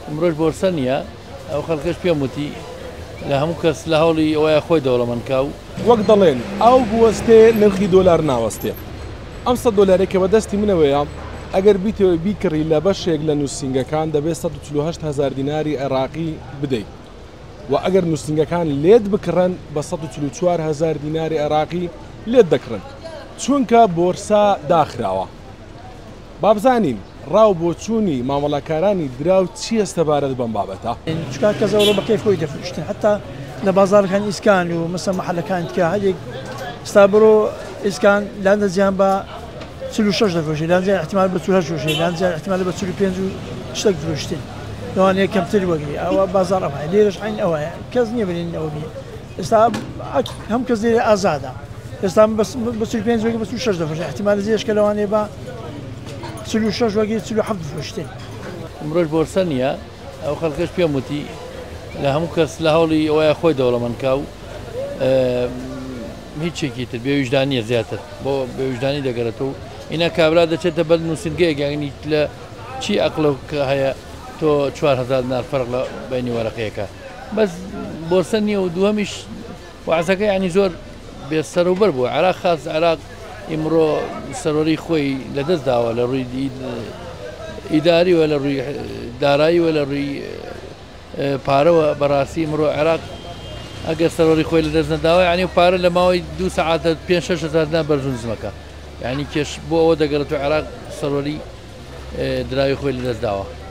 ئەمرۆش بۆرسە نییە ئەو خەلکەش پێم وتی لە هەموو کەس لە هەوڵی ئەوەیە خۆی دەوڵەمەند کا و. وەک دەڵێن ئاو بوەستێ نرخی دۆلار ناوەستێ ئەم سەد دۆلارەی کە بە دەستی منەوەیە ئەگەر بیتەوێ بیکڕی لە بەشێک لە نوسینگەکان دەبێ سەد و چل و هەشت هەزار دیناری عێراقی بدەی و ئەگەر نوسینگەکان لێت بکڕن بە سەد و چل و چوار هەزار دیناری عێراقی لێت دەکڕن چونکە بۆرسا داخراوە. با بزانین ڕا و بۆچوونی مامەڵەکارانی دراو چییە سەبارەت بەم بابەتە؟ چونکە کەس ئەوڕۆ بە کەیف خۆی دەفروشتن حەتا لە بازاڕەکانی ئیسکان و مەسە مەحەلەکان تیا هەندێک ستا بڕۆ ئیسکان لاندەزیان بە چل و شەش دەفرۆشی لانجیان احتمال بە چل و هەشت فرۆشی لانجیان احتمال بە چل و پێنج و شتێک فرۆشتن لەوانەیە کەمتر وەگری ئەوە بازاڕ ئەوە لێرەش عین ئەوەیە کەس نییە بلێن ئەوە بێ ئێستا ئەک هەم کەس لێرە ئازادە ئێستا بەس بە چل پێنج وەگە بە چل و شەش دەفرۆشێ احتیمال زیرش کە لەوانەیە بە چل و شەش وەگەی چل و حەفت بفرۆشتێ ئەمڕۆژ بۆرسە نییە ئەو خەڵکەش پێم وتی لە هەموو کەس لە هەوڵی ئەوەیە خۆی دەوڵەمەندکا و هیچێکی تر بێویژدانیە زیاتر بۆ بێویژدانی دەگەرێت و ئینا کابرا دەچێتە بەر نووسنگەیەگەنیت لە چی ئەقلە کە هەیە تۆ 4هزار نار فەرق لە بینی وەرەقەیەەکە بەس بۆرسە نییە و دووەمیش وازەکە ینی زۆر بێ سەرەوبەر بوو عراق خاز عراق ئیمڕۆ سەرۆری خۆی لەدەست داوە لە ڕووی ئیداری وە لە ڕووی دارایی وە لە ڕووی پارەوە بەڕاستی مرۆ عێراق ئەگەر سەرۆری خۆی لە دەست نەداوە ینی و پارە لە ماوەی دو سعاتە پێ شهزارنا بەرزونزمەکە ینی کێش بۆ ئەوە دەگەڕێت و عێراق سەرۆری دراوی خۆی لە دەست داوە.